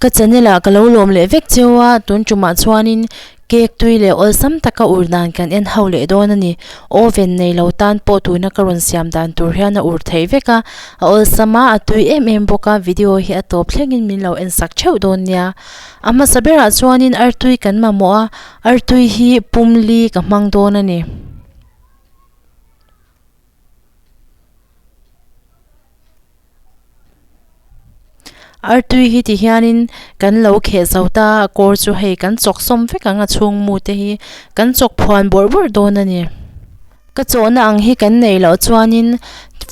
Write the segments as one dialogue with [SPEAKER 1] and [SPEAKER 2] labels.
[SPEAKER 1] Ka channel ah ka lo lawm leh vek cheu a, tun tumah chuanin cake tui leh awlsam taka ur dan kan en ho leh dawn a ni. Oven nei lo tan pawh tuna ka rawn siam dan tur hian a ur theih vek a, a awlsam a, a tui em em bawk a, video hi a tawp thlengin min lo en sak theuh dawn nia. A hmasa berah chuanin artui kan mamawh a, artui hi pumli ka hmang dawn a ni. Artui hi ti hianin kan lo kheh zo ta a kawr chu hei kan chawk sawm vek ang a chhungmu te hi kan chawk phuan bawrh bawrh dawn a ni. Ka chawhna ang hi kan neih loh chuanin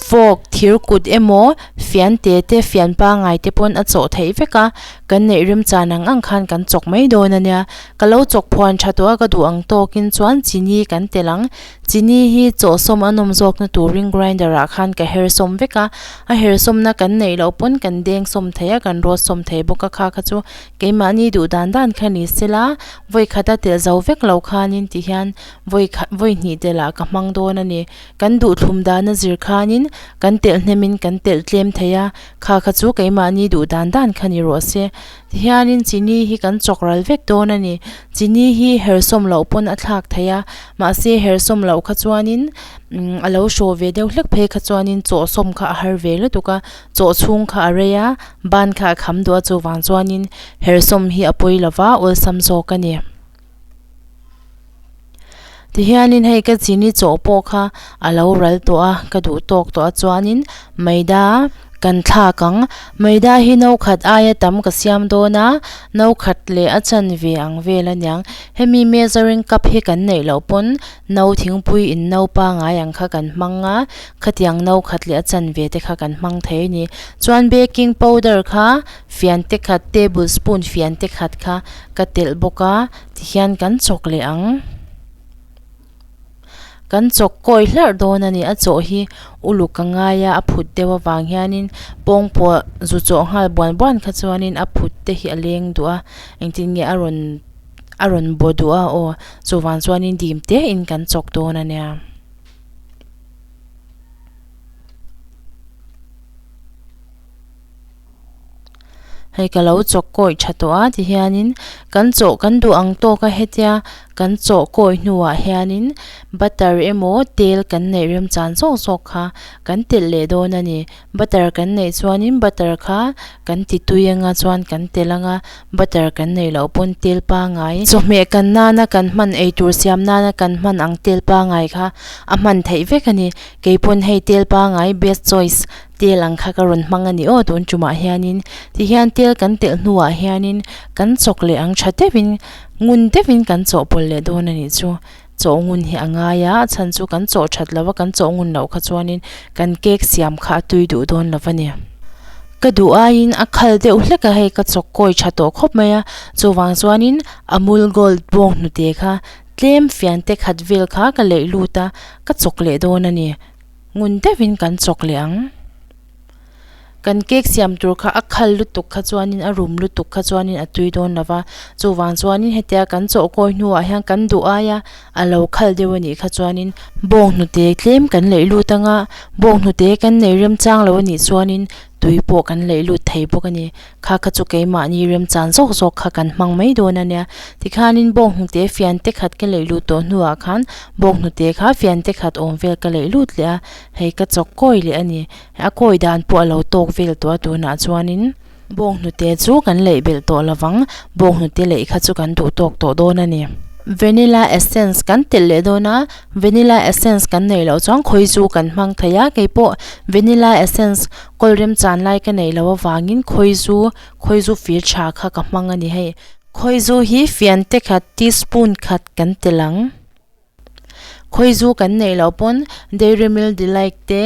[SPEAKER 1] fog thir kut emaw fian te te fian pangai te pawn a chawh theih vek a, kan neih remchan ang ang khan kan chawk mai dawn a nia. Ka lo chawk phuan tha tawh a ka duh ang tawkin chuan chini kan telh ang. Chini hi chaw sawm a nawm zawkna turin grinder ah khan ka her sawm vek a, a her sawmna kan neih loh pawn kan deng sawm thei a, kan rawt sawm thei bawk a, kha kha chu keimahni duh dan dan kha ni se la, vawi khata telh zo vek lo khanin ti hian vawi khat vawi hnih telh ah ka hmang dawn a ni. Kan duhthlum dan a zir khanin kan telh hnem in kan telh tlem thei a, kha kha chu keimahni duh dan dan kha ni rawh se. Tihianin chini hi kan chawk ral vek dawn a ni. Chini hi herhsawm loh pawn a thlak theih a, mahse herhsawm loh kha chuanin umm a lo hraw ve deuh hlek phei kha chuanin chawhsawm kha a har ve lutuk a, chawh chhung kha a rei a, ban kha a kham duah a, chuvang chuanin herhsawm hi a pawi lova awlsam zawk a ni. Tihianin hei ka chini chaw pawh kha a lo ral tawh a, ka duh tawk tawh a chuanin Maida kan thlak ang. Maida hi no khat aia tam ka siam dawn a, no khat leh a chanve ang vel a niang. Hemi measuring cup hi kan neih loh pawn no thingpui in no pangai ang kha kan hmang a, khatiang no khat leh a chanve te kha kan hmang thei a ni. Chuan baking powder kha Fiante khat, table spoon fiante khat kha ka telh bawk a, tihian kan chawk leh ang. Kan chawk kawi hlarh dawn a ni, a chaw hi uluk a ngai a, a phut deuh avang hianin pawngpua zu chaw nghal buan buan kha chuanin a phut te hi a leng duh a, engtin nge a rawn a rawn baw duh a aw, chuvang chuanin dim tein kan chawk dawn a nia. Hei ka lo chawk kawih tha tawh a ti hianin kan chaw kan duh ang tawk a hetia kan chaw kawih hnuah hianin butter emaw tel kan neih remchan zawk zawk kha kan telh leh dawn a ni butter kan neih chuanin butter kha kan ti tui anga chuan kan telh anga butter kan neih loh pawn tel pangai chawhmeh kan nana kan hman ei tur siam nana kan hman ang tel pangai kha a hman theih vek a ni kei pawn hei tel pangai best choice Tel ang kha ka rawn hmang a ni aw tun tumah hianin tihian tel kan telh hnuah hianin kan chawk leh ang tha deuhin ngun deuhin kan chawhpawlh leh dawn a nih chu. Chawh ngun hi a ngai a, a chhan chu kan chawh that lo a, kan chawh ngun loh kha chuanin kan cake siam kha a tui duh dawn lo va ni. Ka duh aiin a khal deuh hlek a hei ka chawk kawi tha tawh khawp mai a, chuvang chuanin Amul Gold bawng hnute kha tlem fian te khat vel kha ka leih lut a, ka chawk leh dawn a ni. Ngun deuhin kan chawk leh ang. Kan cake siam tur kha a khal lutuk kha chuanin, a rum lutuk kha chuanin a tui dawn lova. Chuvang chuanin hetia kan chawhkawi hnuah hian kan duh ai a, a lo khal deuh a nih kha chuanin, bawnghnute tlem kan laih lut anga, bawnghnute kan nei remchang lo a nih chuanin, tui pawh kan laih lut thei bawk a ni. Kha kha chu keimahni remchan zawk zawk kha kan hmang mai dawn a nia. Tikhanin bawk hnute fiante khat ka laih lut tawh hnuah khan bawk hnute kha fiante khat awm vel ka laih lut leh a, hei ka chawk kawi leh a ni. A kawi dan pawh a lo tawk vel tawh a tunah chuanin bawk hnute chu kan laih belh tawh lovang, bawk hnute laih kha chu kan duh tawk tawh dawn a ni. Vanilla essence kan telh leh dawn a. Vanilla essence kan nei loh chuan khawi chu kan hmang thei a, kei pawh vanilla essence kawl rem chan lai ka nei lo avangin khawi zu khawi zu fir tha kha ka hmang a ni hei. Khawi zu hi fian te khat teaspoon khat kan tel ang. Khawi zu kan neih loh pawn dairy milk delight te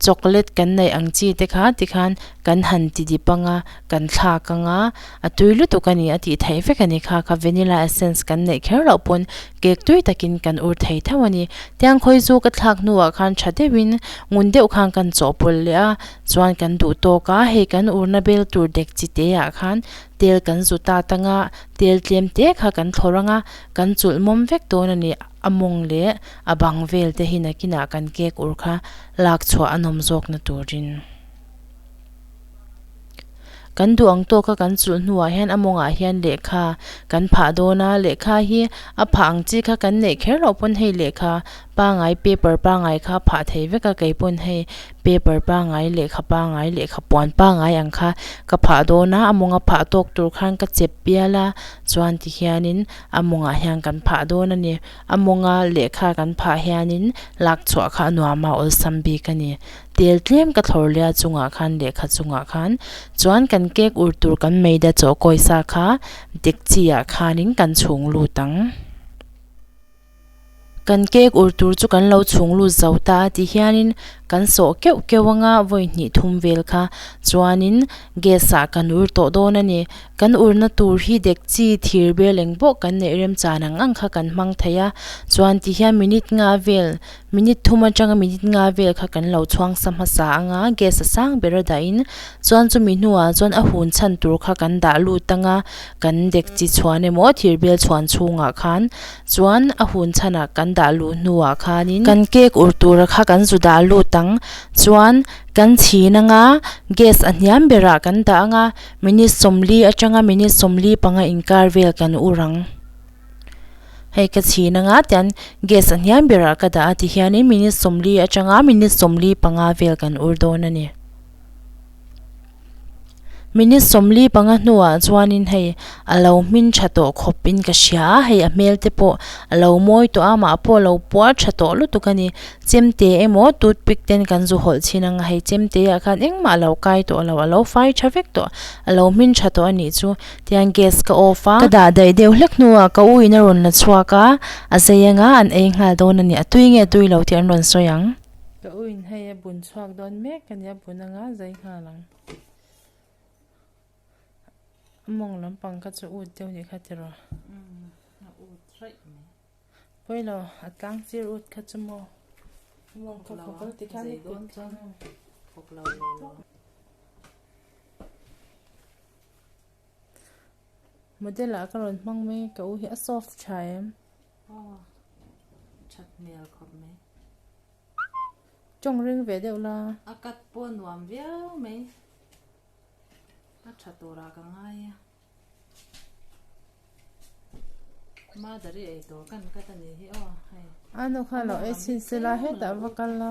[SPEAKER 1] chocolate kan neih ang chi te kha tikhan kan han ti dip ang a, kan thlak anga a tui lutuk a ni a tih theih vek a ni kha, kha vanilla essence kan neih kher loh pawn cake tui takin kan ur thei theuh a ni. Tiang khawi zu ka thlak hnuah khan tha deuhin ngun deuh khan kan chawhpawlh leh a, chuan kan duh tawk a, hei kan urna bel tur dek chi te ah khan tel kan zu ta ta nga, tel tlem te kha kan thlawrh anga kan chulh mawm vek dawn a ni, a mawng leh a bang vel te hi nakin ah kan cake ur kha lak chhuah a nawm zawk na turin. Kan duh ang tawk a, kan chulh hnuah hian a mawngah hian lehkha kan phah dawn a. Lehkha hi a phah ang chi kha kan neih kher loh pawn hei lehkha pangai paper pangai kha a phah thei vek a, kei pawn hei paper pangai lehkha pangai lehkha puan pangai ang kha ka phah dawn a, a mawnga phah tawk tur khan ka chep bial a chuan ti hianin a mawngah hian kan phah dawn a ni. A mawnga lehkha kan phah hianin lak chhuah kha a nuam a awlsam bik a ni. Tel tlem ka thlawr lia chungah khan lehkha chungah khan chuan kan cake ur tur kan meida chawhkawi sa kha dekchi ah khanin kan chhung lut ang. Kan cake ur tur chu kan lo chhung lut zo ta a ti hianin kan sawh keuh keuh anga vawi hnih thum vel kha chuanin gas ah kan ur tawh dawn a ni. Kan urna tur hi dekchi thir bel eng bawh kan neih rem chan ang ang kha kan hmang thei a chuan ti hian minute nga vel, Minute thum atanga minute nga vel kha kan lo chhuangsa hmasa anga gas a sang ber a dahin chuan chumi hnuah chuan a hun chhan tur kha kan dah lut anga kan dekchi chhuan emaw thir bial chhuan chhungah khan chuan a hun chhan ah kan dah luh hnuah khanin kan cake ur tura kha kan zu dah lut ang chuan kan chhin anga gas a hniam berah kan dah anga minute sawmli atanga minute sawmli panga inkar vel kan ur ang. Hei ka chhin anga tian gas a hniam ber ah ka dah a ti hian in minute sawmli atanga minute sawmli panga vel kan ur dawn a ni. Minute sawmli panga hnu ah chuan in hei a lo hmin tha tawh khawp in ka hria a, hei a hmel te pawh a lo mawi tawh a, mah pawh a lo puar tha tawh lutuk a ni. Chemte emaw tooth pick ten kan zu hawlh chin anga hei chemte ah khan engmah a lo kai tawh a lo, a lo fai tha vek tawh, a lo hmin tha tawh a nih chu. Tiang gas ka off a. Ka dah daih deuh hlek hnuah ka uiin a rawn la chhuak a, a zei anga an ei nghal dawn a ni, a tui nge tui lo tih an rawn sawi ang. Ka uiin hei a bun chhuak dawn mek a ni, a bun anga zei nghal ang. A mawng lampang kha chu ut deuh ni kha ti rawh. A
[SPEAKER 2] ut raih mai. Pawilo
[SPEAKER 1] a tlang chir ut kha chu maw. A mawng kha khaw kal ti kha ni
[SPEAKER 2] kut kha.
[SPEAKER 1] Model ah ka rawn hmang mai ka u hi a soft tha em. Aw
[SPEAKER 2] that hmel khawp mai.
[SPEAKER 1] Chawng reng ve deuh la. A cut pawh nuam
[SPEAKER 2] viau mai. A tha tura ka ngai a. Mother i eitur kan cut a nih hi aw hei. Ano kha lo
[SPEAKER 1] ei chhin se la hetah va kal la.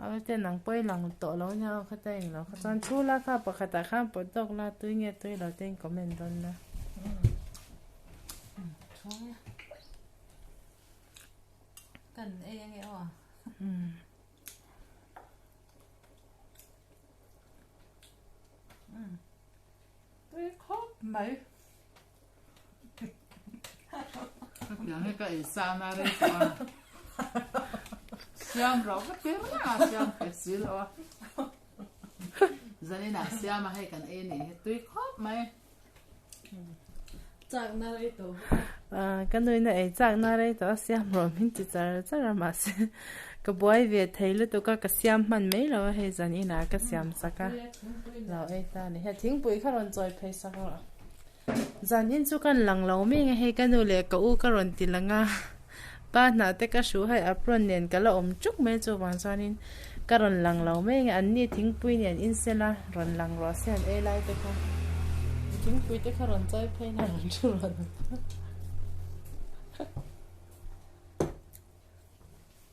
[SPEAKER 1] Aw ten ang pawh i lang tawh lo nia aw khata eng lo kha chuan thu la kha pakhat ah khan pawt dawk la tui nge tui lo te in comment dawn la. Kan
[SPEAKER 2] ei ange aw a. Tui khawp mai.
[SPEAKER 3] Hetiang he ka ei sa na rei tawh a. Siam ro ka tir na siam pe sil o. Zanina siam a hei kan ei ni he tui khop mai.
[SPEAKER 2] Chak na rei to. Ah, ka nui
[SPEAKER 1] na ei chak na rei to a siam ro min ti char char ma se. Ka buai ve thei lu tu ka ka siam man mai lo a hei zanina ka siam sak a. Lo ei ta ni he thingpui kha ron chawi phei sak lo. Zan in chu kan lang lo meng a hei ka nu leh ka u ka rawn ti lang a, pa hnah te ka hruh hai apron nen ka la awm tuk mai chuvang chuan in ka rawn lang lo meng e, an ni thingpui nen in se la rawn lang ruah se an ei lai te kha thingpui te kha rawn chai phei la rawn thu ruah lo.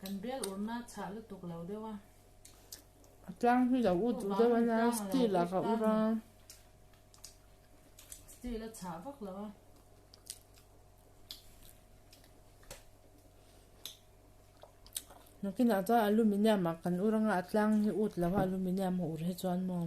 [SPEAKER 2] Kan bel urna chhah lutuk lo deuh a. A
[SPEAKER 1] tlang hi lo ut duh deuh a la, steel ah ka ur a.
[SPEAKER 2] Steel a chhah vak lo a.
[SPEAKER 1] Nakin ah chuan aluminium ah kan ur anga a tlang hi ut lo a aluminium a ur hi chuan maw.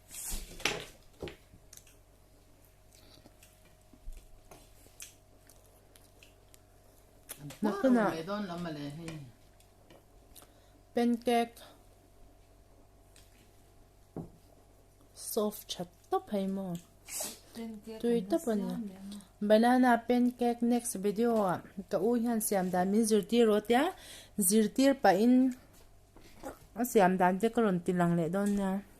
[SPEAKER 1] Nakuna pancake soft chat to phai mo tui to pan banana pancake next video a ka u hian siam dan min zirtir ro tia zirtir pa in a siam dan te ka ron tilang le don nia